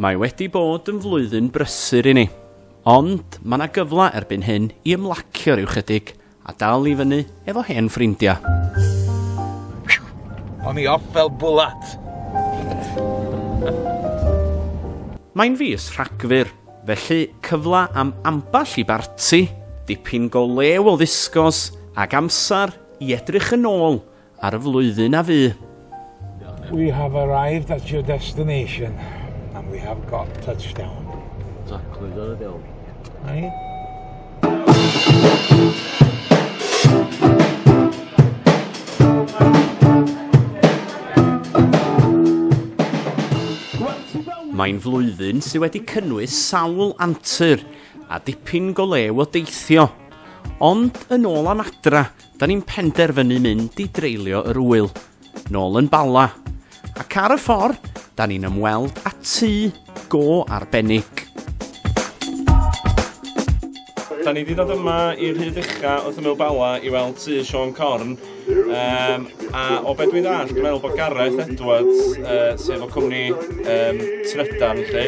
Mae wedi bod yn flwyddyn brysur i ni, ond mae yna gyfle erbyn hyn i ymlacio rhyw chydig a dal i fyny efo hen ffrindiau. O'n i off fel bwlat! Mae'n fis Rhagfyr, felly cyfle am ambell i barti, dipyn go lew o ddisgos ac amser i edrych yn ôl Ar y flwyddyn a fu. We have arrived at your destination and we have got touchdown. Exactly, dyna dewl. Right? Mae'n flwyddyn sydd wedi cynnwys sawl antur a dipyn go lew o deithio. Ond yn ôl am adra, 'Da ni'n penderfynu mynd i dreulio yr ŵyl, nôl yn Bala, ac ar y ffordd, 'da ni'n ymweld â tŷ go arbennig. Da ni 'di dod yma i rhyd ucha wrth ymyl Bala i weld tŷ Siôn Corn, yym, a o be' dwi'n ddall', dwi'n meddwl bod Gareth Edwards, yy, sef o cwmni, yym, Trydan 'lly,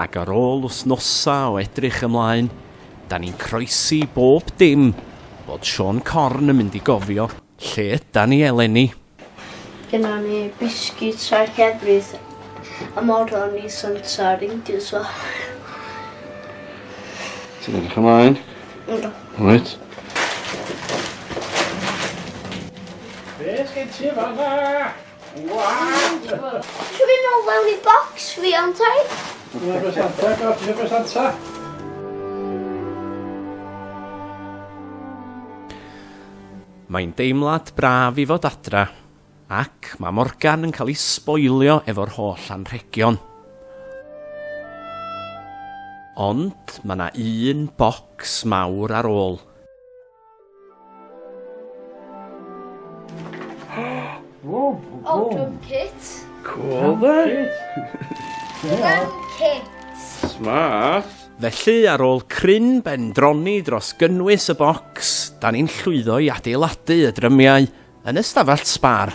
Ac ar ôl wythnosau o edrych ymlaen, dan ni'n croesi bob dim bod Siôn Corn yn mynd i gofio lle ydan ni eleni. Gynnon ni biscuits a llefrith a moron i Santa Reindeers fo. Ti'n edrych ymlaen? Yndw. Reit. Be' sgen ti fan 'na? Can we know where we box we on time? Dyna beth anta, gaf, dyna beth anta. Mae'n deimlad braf i fod adra, ac mae Morgan yn cael ei sboilio efo'r holl anrhegion. Ond mae yna un bocs mawr ar ôl. Whoa, oh, drum kit. Cool, dde. Drum kit. Smart. Felly, ar ôl cryn bendroni dros gynnwys y bocs, da ni'n llwyddo i adeiladu y drymiau Yn y stafell sbâr.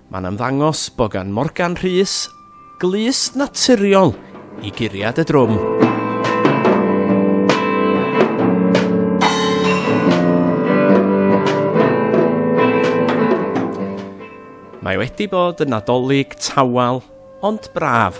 Mae'n ymddangos bod gan Morgan Rhys glust naturiol i guriad y drwm. Mae wedi bod yn Nadolig tawel ond braf.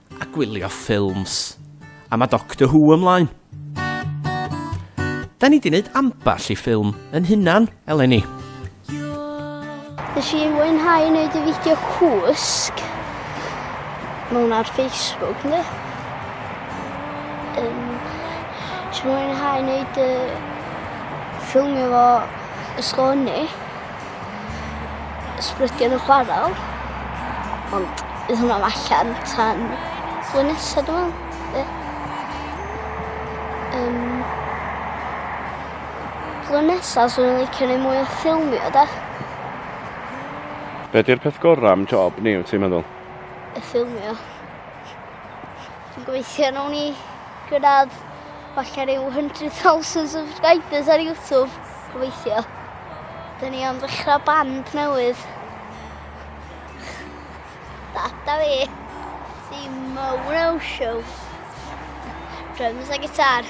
A gwylio ffilms. A mae Doctor Who ymlaen. Da ni di wneud ambell i ffilm yn hunan, eleni. Nes i mwynhau wneud y fideo cwsg mewn ar Facebook, ne? Um, nes i mwynhau wneud y ffilmio fo ysgol hynny. ysbrydion yn chwarae. Ond bydd hwnna allan tan fwy nesaf, dwi'n meddwl. flwyddyn nesaf, so ni'n licio neud mwy o ffilmio, da. Be di'r peth gorau am job ni, wyt ti'n meddwl? Y ffilmio. Dwi'n gweithio yn uni gyda falle rhyw 100,000 subscribers ar YouTube. Gweithio. Dyn ni am ddechrau band newydd. Data fi. Dim uh, show. Drums a gitar.